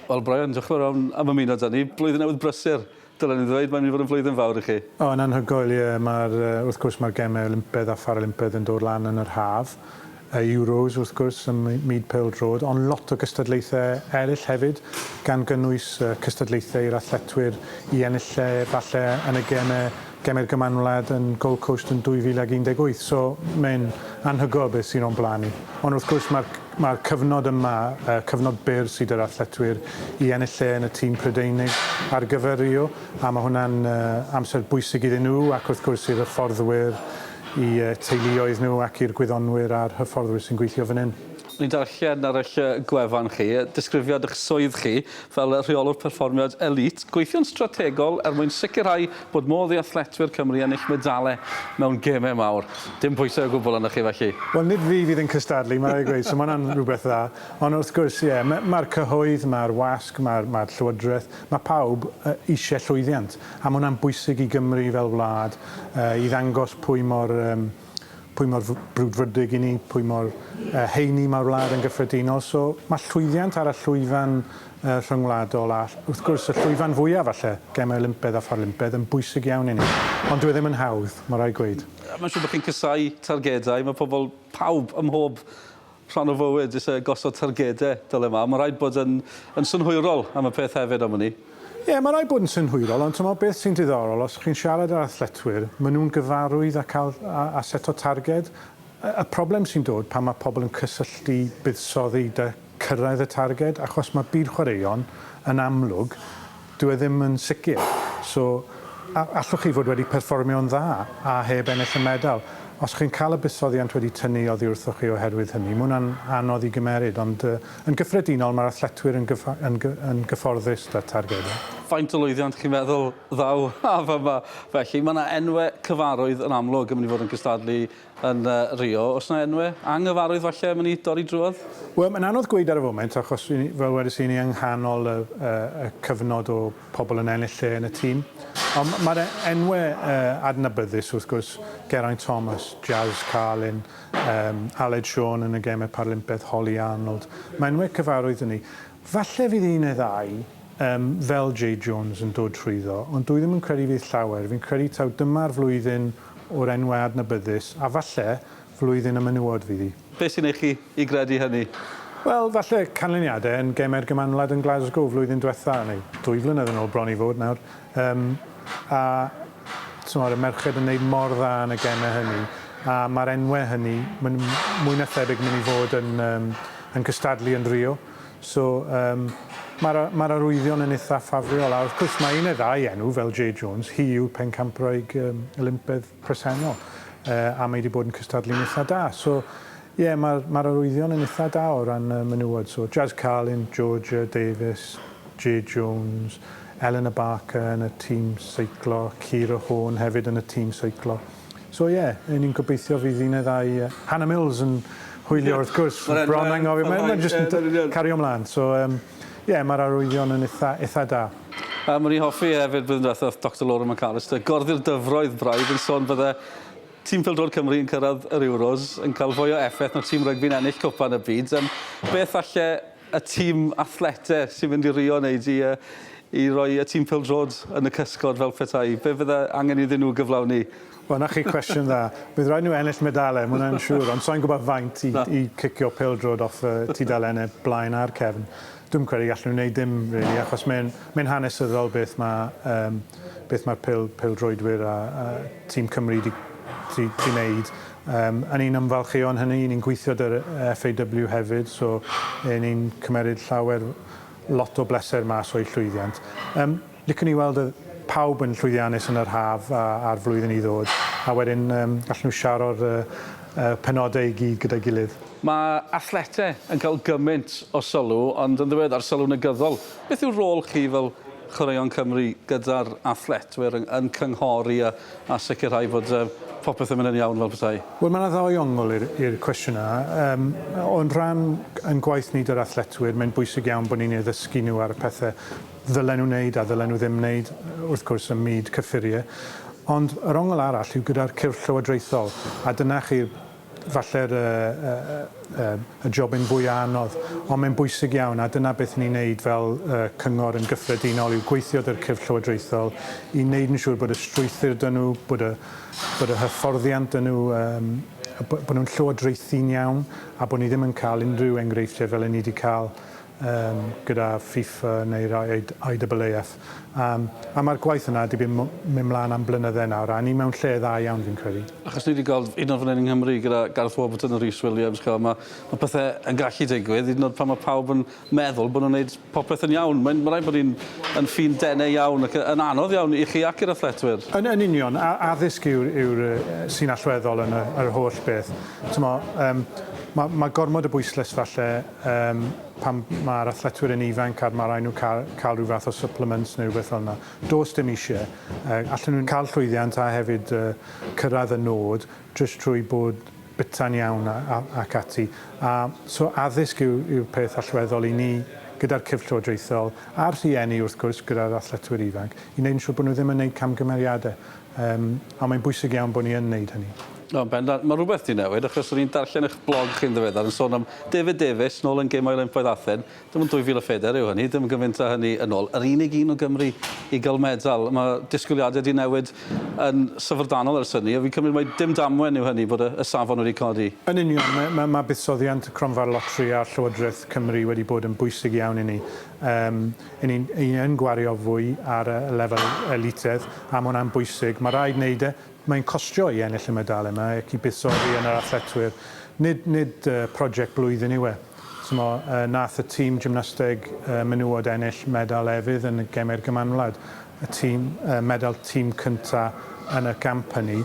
Wel Brian, diolch yn fawr iawn am ymuno 'da ni. Blwyddyn Newydd brysur, dylen i ddweud, mae'n mynd i fod yn flwyddyn fawr i chi. O, yn anhygoel, ie. Mae'r, wrth gwrs, mae'r Gemau Olympaidd a Pharalympaidd yn dod lan yn yr haf. Y Euros, wrth gwrs, ym myd pêl-droed, ond lot o gystadlaethau eraill hefyd, gan gynnwys cystadlaethau i'r athletwyr i ennill lle, falle, yn y Gemau gem i'r Gymanwlad Wlad yn Gold Coast yn 2018, so mae'n anhygoel beth sydd o'n blaen ni. Ond wrth gwrs mae'r mae'r cyfnod yma, uh, cyfnod byr sydd yr athletwyr i ennill lle yn y tîm Prydeinig ar gyfer Rio, a mae hwnna'n uh, amser bwysig iddyn nhw ac wrth gwrs i'r hyfforddwyr, i uh, teuluoedd nhw ac i'r gwyddonwyr a'r hyfforddwyr sy'n gweithio fan hyn. Ni'n darllen ar eich gwefan chi disgrifiad eich swydd chi fel Rheolwr Perfformiad Elît, gweithio'n strategol er mwyn sicrhau bod modd i athletwyr Cymru ennill medalau mewn gemau mawr. Dim pwysau o gwbl arnoch chi felly? Wel, nid fi fydd yn cystadlu, mae'n rhaid i fi ddweud, so mae hwnna'n rhywbeth dda. Ond wrth gwrs, ie, mae'r cyhoedd, mae'r wasg, mae'r Llywodraeth, mae pawb eisiau llwyddiant. A mae hwnna'n bwysig i Gymru fel wlad, i ddangos pwy mor... pwy mor brwdfrydig i ni, pwy mor heini mae'r wlad yn gyffredinol. So mae llwyddiant ar y llwyfan rhyngwladol a wrth gwrs y llwyfan fwyaf falle, Gemau Olympedd a Pharlympedd, yn bwysig iawn i ni. Ond dyw e ddim yn hawdd, mae rhaid gweud. Mae'n siŵr bod chi'n casáu targedau, mae pobl, pawb, ym mhob Rhan o fywyd is yy gosod targede, dyle mam. Ma' raid bod yn yn synhwyrol am y peth hefyd am wn i. Ie, ma' raid bod yn synhwyrol, ond t'mod beth sy'n diddorol, os chi'n siarad â'r athletwyr, ma' nhw'n gyfarwydd â cael a a set o targed. Y y problem sy'n dod pan ma' pobl yn cysylltu buddsoddi 'da cyrraedd y targed, achos ma' byd chwaraeon, yn amlwg, Dw i ddim yn sicr. So, allwch chi fod wedi perfformio'n dda a heb ennill y medal. Os chi'n cael y buddsoddiant wedi tynnu oddi wrthoch chi oherwydd hynny, mae hwnna'n anodd i gymeryd, ond yn gyffredinol mae'r athletwyr yn yn gyfforddus 'da targedau. Faint o lwyddiant chi'n meddwl ddaw â fo 'ma felly? Mae 'na enwe cyfarwydd yn amlwg yn mynd i fod yn cystadlu Yn Rio. Oes 'na enwe anghyfarwydd falle am i ni dorri drwodd? Wel, mae'n anodd gweud ar y foment achos ry'n ni, fel wedes i, ry'n ni yng nghanol y y y cyfnod o pobl yn ennill lle yn y tîm. Ond mae'r e- enwe yy adnabyddus wrth gwrs, Geraint Thomas, Jazz Carlin, yym Aled Siôn yn y gemau Paralympiaeth, Hollie Arnold. Mae enwe cyfarwydd 'da ni. Falle fydd un neu ddau yym fel Jay Jones yn dod trwyddo, ond dwi ddim yn credu fydd llawer. Fi'n credu taw dyma'r flwyddyn o'r enwau adnabyddus, a falle, flwyddyn y menywod fydd hi. Beth sy'n ei chi i gredu hynny? Wel, falle canlyniadau yn Gemau'r Gymanwlad yn Glasgow flwyddyn diwetha', neu dwy flynedd yn ôl bron i fod nawr, yym, a, timod, y merched yn wneud mor dda yn y gemau hynny, a ma'r enwau hynny, maen nhw mwy na thebyg yn mynd i fod yn, yym, yn cystadlu yn Rio. So yym ma'r a- ma'r arwyddion yn itha ffafriol a wrth cwrs mae un neu ddau enw fel Jay Jones, hi yw pencampwraig yym Olympedd presennol yy a mae 'di bod yn cystadlu'n itha da. So ie ma'r ma'r arwyddion yn itha da o ran yy menywod so Jazz Carlin, Georgia Davies, Jay Jones, Eleanor Barker yn y tîm seiclo, Ciara Horn hefyd yn y tîm seiclo. So ie, yy ni'n gobeithio fydd un neu ddau yy Hannah Mills yn hwylio wrth gwrs, bron anghofio, mae mae jyst yn t- cario mlan, so yym ie ma'r arwyddion yn itha itha da. Yym o'n i'n hoffi hefyd blwyddyn dwetha o'dd Doctor Laura McAllister, gorddi'r dyfroedd braidd yn sôn bydde tîm pêl-droed Cymru yn cyrradd yr Euros yn ca'l fwy o effeth na tîm rygbi'n ennill cwpan y byd, yym beth falle y tîm athlete sy'n mynd i rio neu i yy i roi y tîm pêl-drod yn y cysgod fel petai? Be' fydde angen iddyn nhw gyflawni? Wel 'na chi cwestiwn dda. Bydd raid nhw ennill medale, ma' hwnna'n siŵr, ond sai'n gwybod faint i i cicio pêl-drod off y tudalenne blaen a'r cefn. Dwi'm credu gallen nhw wneud dim rili achos mae'n mae'n hanesyddol beth ma' yym beth ma'r pêl pêl-droedwyr a a Tîm Cymru 'di 'di 'di 'neud. Yym 'yn ni'n ymfalchïo yn hynny, 'yn ni'n gweithio 'dy'r FAW hefyd, so 'yn ni'n cymeryd llawer, lot o bleser mas o'u llwyddiant. Yym licwn i weld y pawb yn llwyddiannus yn yr haf a a'r flwyddyn i ddod, a wedyn yym gallen nhw siaro'r yy y penodau i gyd gyda'i gilydd. Mae athletau yn cael gymaint o sylw, ond yn ddiweddar sylw negyddol. Beth yw rôl chi fel Chwaraeon Cymru gyda'r athletwyr yn cynghori a a sicrhau fod yy popeth yn mynd yn iawn fel petai? Wel mae 'na ddau ongl i'r i'r cwestiwn yna. Yym o'n rhan ein gwaith ni 'da'r athletwyr mae'n bwysig iawn bod ni'n eu ddysgu nhw ar y pethe ddylen nhw wneud a ddylen nhw ddim wneud wrth gwrs ym myd cyffurie ond yr ongl arall yw gyda'r cyrff llywodraethol a dyna chi'r Falle'r y jobyn fwya' anodd, ond mae'n bwysig iawn, a dyna beth ni'n neud fel y cyngor yn gyffredinol yw gweithio 'da'r cyrff llywodraethol i neud yn siŵr bod y strwythur 'da nhw, bod y bod y hyfforddiant 'da nhw, yym bo' nhw'n llywodraethu'n iawn, a bod ni ddim yn ca'l unrhyw enghreifftiau fel 'yn ni 'di ca'l um, gyda FIFA neu'r IAAF. Um, a mae'r gwaith yna wedi mynd mlaen am blynydde nawr, a ni mewn lle dda iawn fi'n credu. Achos ni wedi gweld un o'r fan yng Nghymru gyda Gareth Warburton a Rhys Williams, mae ma pethau yn gallu digwydd, hyd yn oed pan mae pawb yn meddwl bod nhw'n gwneud popeth yn iawn. Mae'n ma rhaid bod ni'n yn ffin denau iawn ac yn anodd iawn i chi ac i'r athletwyr. Yn, yn union, a, addysg yw'r yw sy'n allweddol yn y, yr holl beth. Tymo, um, mae ma gormod o bwyslais falle Yym, pan mae'r athletwyr yn ifanc a ma' raid nhw ca- cael rhyw fath o supplements neu rhywbeth fel 'na, does dim isie. Yy, allen nhw cael llwyddiant a hefyd yy cyrraedd y nod jyst trwy bod bita'n iawn a- a- ac ati. A, so addysg yw yw'r peth allweddol i ni, gyda'r cyrff llywodraethol, a'r rhieni wrth gwrs, gyda'r athletwyr ifanc, i wneud yn siŵr bod nhw ddim yn wneud camgymeriadau. Yym, a mae'n bwysig iawn bod ni yn wneud hynny. O, yn bendant. Mae rhywbeth wedi newid, achos o'n i'n darllen eich blog chi'n ddiweddar yn sôn am David Davies, nôl yn Gemau Olympaidd Athen. Dim ond 2004 yw hynny, dim yn gymaint â hynny yn ôl. Yr unig un o Gymru i gael medal. Mae disgwyliadau wedi newid yn syfrdanol ers hynny, a fi'n cymryd mai dim damwen yw hynny bod y, y safon wedi codi. Yn union, mae, mae, mae buddsoddiant y Cronfa'r Loteri a'r Llywodraeth Cymru wedi bod yn bwysig iawn i ni. Um, Yn un, yn yn gwario fwy ar y lefel elitedd, a ma' hwnna'n bwysig. Ma' raid neud e. Mae'n costio i ennill y medalau 'ma ac i buddsoddi yn yr athletwyr. Nid nid yy project blwyddyn yw e. T'mo' yy nath y tîm gymnasteg yy menywod ennill medal efydd yn y Gemau'r Gymanwlad. Y tîm yy medal tîm cynta yn y gamp hynny.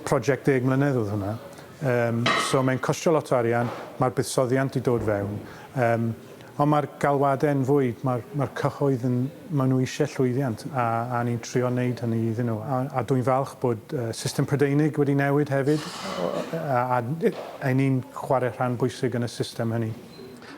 Project ddeg mlynedd o'dd hwnna. Yym so mae'n costio lot o arian, ma'r buddsoddiant 'di dod fewn. Yym. Ond mae'r galwadau yn fwy, mae'r mae'r cyhoedd yn, maen nhw eisiau llwyddiant a, a ni'n trio wneud hynny iddyn nhw. A, a dwi'n falch bod uh, system Prydeinig wedi newid hefyd a, a, a ni'n chwarae rhan bwysig yn y system hynny.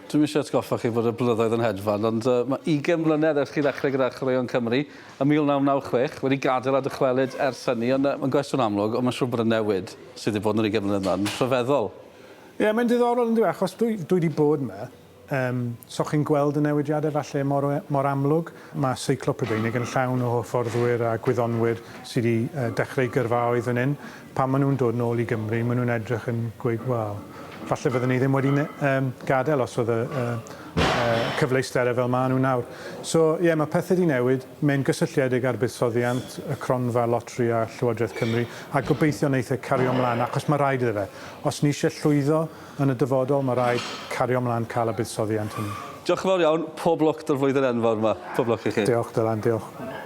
Dwi'm eisiau atgoffa chi bod y blynyddoedd yn hedfan, ond uh, mae 20 mlynedd ers chi ddechrau gyda Chwaraeon Cymru yn 1996, wedi gadael a dychwelyd ers hynny, ond uh, mae'n gwestiwn amlwg, ond mae'n siŵr bod y newid sydd wedi bod yn yr 20 mlynedd yma yn rhyfeddol. Ie, mae'n diddorol yndyw e, achos dwi, dwi wedi bod yma, um, so chi'n gweld y newidiadau falle mor, mor amlwg. Mae seiclo Prydeinig yn llawn o hyfforddwyr a gwyddonwyr sydd wedi uh, dechrau gyrfaoedd yn un. Pan maen nhw'n dod nôl i Gymru, maen nhw'n edrych yn gweud, wel, falle fydden ni ddim wedi um, gadael os oedd y, uh, uh, cyfleusterau fel maen nhw nawr. So, ie, yeah, mae pethau wedi newid. Mae'n gysylltiedig â'r buddsoddiant, y cronfa loteri a Llywodraeth Cymru, a gobeithio wneith e cario 'mlaen, achos mae rhaid iddo fe. Os ni eisiau llwyddo yn y dyfodol, mae rhaid cario 'mlaen cael y buddsoddiant hynny. Diolch yn fawr iawn, pob lwc 'da'r flwyddyn enfawr 'ma. Pob lwc i chi. Diolch, Dylan, diolch.